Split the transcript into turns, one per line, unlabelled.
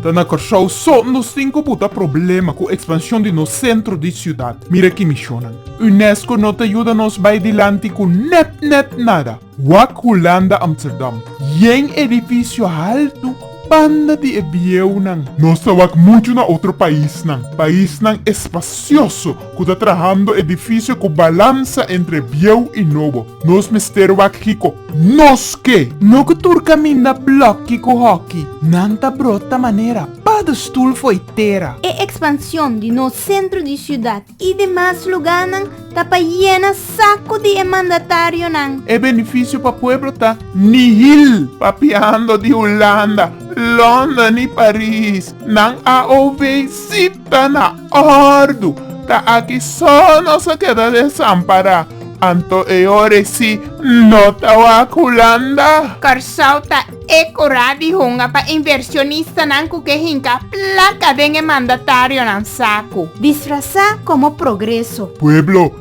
Ta na Kòrsou so nos tin ku buta problema ku ekspanshon di nos sentro di siudat. Mira ki mishonnan. Unesco no ta yuda nos bai dilanti ku nèt nèt nada. Wak Hulanda Amsterdam. Yen edifisio haltu banda di e bieunan. Nos ta wak muchu na otro paisnan. Paisnan espasioso ku ta trahando edifisio ku balansa entre bieu i nobo. Nos mester wak kiko? Nos ke! No ku tur kaminda blòki ku hòki nan ta brota manera padestul fo'i tera. E ekspansion di nos sentro di siudat i demas lugánan ta pa yena saku di e mandatarionan. E benefisio pa pueblo ta nihil. Papiando di Hulanda, London i Paris, nan a OV sita na. Kordu, ta aki so nos a keda desampará, anto e ore si no ta wak Hulanda. Kòrsou ta e kurá di hunga pa inversionistanan ku ke hinka plaka den e mandatarionan saku. Disfrasá komo progreso. Pueblo